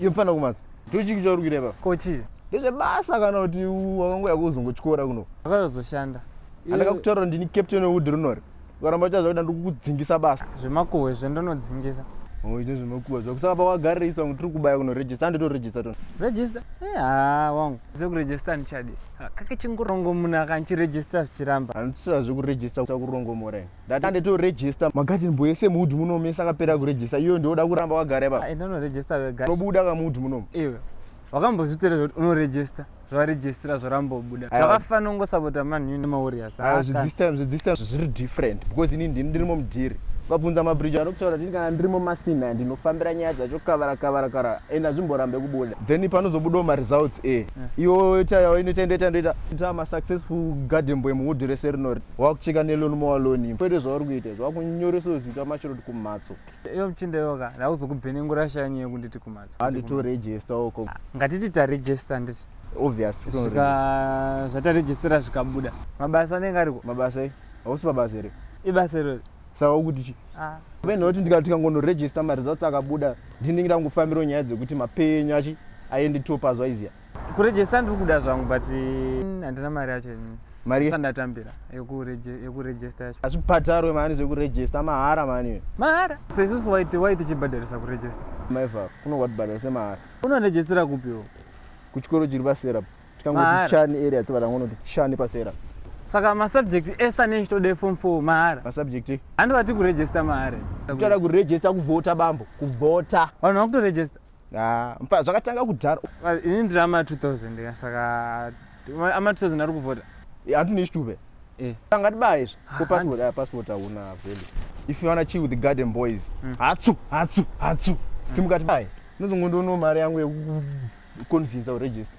Iyo mfana kumazi. Ndochiki chauri kuita ipapo? Ko chii? Ndezvebasa kana kuti wakangouya kuzongotyora kuno. Akazoshanda. Andaka kutaura ndini captain wewood rinori. Ukaramba uchaziva kuti ndikukudzingisa basa. Zvemakuhwe izvo ndonodzingisa. Oh, izvo zvemakuhwe izvo. Kusaka pawagarira isu vamwe tiri kubaya kuno register andito register tona. Register? Eh, ah, wangu. Zvekuregister ndichadi. Kake chingurongo munhu akanchiregister zvichiramba. Andisira zvekuregister kurongo mora. Ndata ndeto register magarden boy ese muhudhu muno mesa akapera kuregister iyo ndioda kuramba wagara ipa. Ah, Enda unoregister wega. Unobuda ka muhudhu muno. Iwe. Wakambozvitera zvoti unoregister zvaregistra zvorambobuda zvakafanira kungosapota man u nemawarriors ah, this time this time zviri different because ini ndini ndirimo mudhiri ukabvunza mabridge anokutaura kuti kana ndirimo masina ndinofambira nyaya dzacho kavara kavara kara and hazvimborambe kubuda then panozobudawo maresults e eh. iwo ita yawo inoita ndoita ndoita ita masuccessful garden boy muhudhi rese rinori wakucheka neloni mowaloni kwete zvauri kuita izvo wakunyoresawo zita mashiroti kumhatso iyo muchinda yoka ndauzokubhenengura shanyi yekunditi kumhatso handi toregista oko ah, ngatiti taregista nditi obviousvika zvataregistira zvikabuda mabasa anenge ariko mabasa i hausi pabasa here ibasa iro saka ukuti chi ah. pene kuti ndikati tikangonoregista maresults akabuda ndinenge ndangofambirawo nyaya dzekuti mapenyu achi aende topazuva iziya Kurejesa ndiri kuda zvangu but mm, handina mari yacho ini. Mari ye- Sasa ndatambira yekureje- yekurejesta yacho. hazvibhadharwe mani zvekurejesta mahara mani iwe Mahara. Sasa isusu waiti waiti chibhadharisa kurejesta. maiva kuno kwatibhadhara semahara Unorejestera kupi iwe? kuchikoro chiri pasera apo. tikangoti Mahara. chani area tobata ngonoti chani pasera Saka masubject ese ane chitode form 4 mahara. masubject Handi vati kurejesta mahara. kuchada kurejesta kuvhota bambo kuvhota Vanhu vakutorejesta. Ah, mpa zvakatanga kudhara. Ah, ini ndiri ama 2000 ka saka ama 2000 ari kuvhota. Eh, antu ni stube. Eh. Tanga tibaye izvi. Ko passport, ah, passport hauna vele. If you wanna chill with the garden boys. Hmm. Hatsu, hatsu, hatsu. Hmm. Simuka tibaye. Nizongondo no mari yangu yeku convince u register.